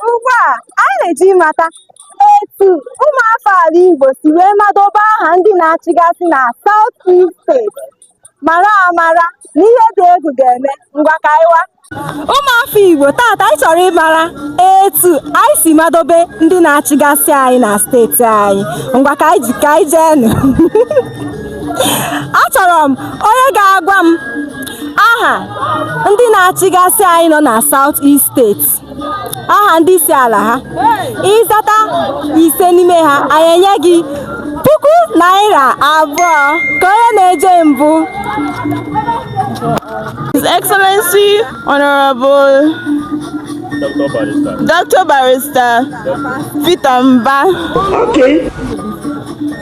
Ugbu a, anyị na-eje ịmata etu ụmụafọ ala Igbo si wee madobe aha ndị na-achịgasị na South East steeti mara amara na ihe dị egwu ga-eme ngwa ka anyị wa. Ụmụafọ Igbo tata anyị chọrọ ịmara etu anyị si madobe ndị na-achịgasị anyị na steeti anyị ngwa ka anyị je ka anyị jeenụ achọrọ m onye ga-agwa m aha ndị na-achịgasị anyị nọ na South East steeti aha ndị isi ala ha ị zata ise n'ime ha anyị enye gị puku naira abụọ ka onye na-eje mbụ His Excellency Honorable Dr. Barrister Peter Mba. Okay.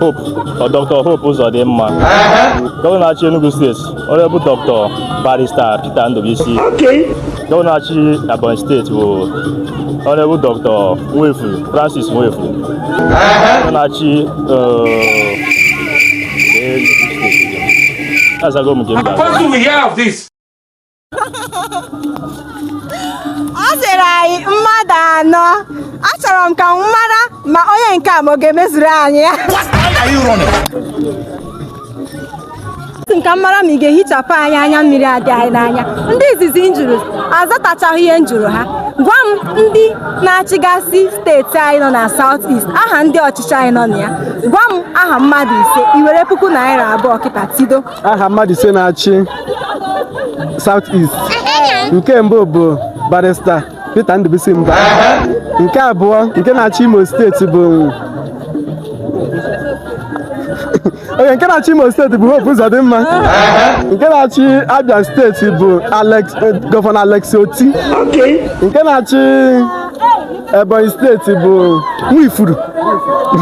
Hope ọ Dr. Hope Uzodimma gọvanọ na-achị Enugu steeti Honorable Dr. Barrister Peter Ndubuisi gọvanọ na-achị Ebonyi steeti bụ Honorable Dr. Nwefu Francis Nwifuru gọvanọ na-achị azago m nke mba ọ sịrị anyị mmadụ anọ achọrọ m ka m mara ma onye nke a ma ọ ga-emezuru anyị ya ka m mara ma ị ga-ehichapụ anyị anya mmiri a dị anyị n'anya ndị izizi m jụrụ azatachaghị ihe m jụrụ ha gwa m ndị na-achịgasị steeti anyị nọ na South East aha ndị ọchịchị anyị nọ na ya gwa m aha mmadụ ise i were puku naira abụọ kịta tido aha mmadụ ise na-achị South East nke mbụ bụ barista Peter Ndubisi Mba nke abụọ nke na-achị Imo steeti bụ onye nke na-achị Imo steeti bụ Hope Uzodimma nke na-achị Abia steeti bụ Alex eh, gọvanọ Alex Oti nke na-achị Ebonyi steeti bụ Nwifuru.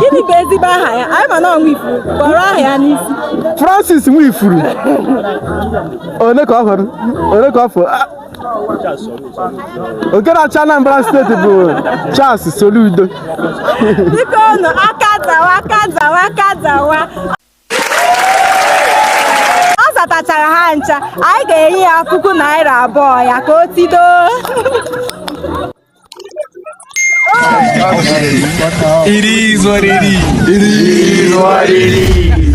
Gịnị bụ ezigbo aha ya? Anyị ma na ọ Nwifuru, kpọrọ aha ya n'isi. Francis Nwifuru. Ole ka ọ fọrọ? Ole ka ọ fọ? Ah, Nke na-achị Anambra steeti bụ Charles Soludo. Biko nụ, aka zawa, aka zawa, aka zawa. tachara ha ncha anyị ga-enye ya puku naira abụọ ya ka o tido It is what it is. It is what it is.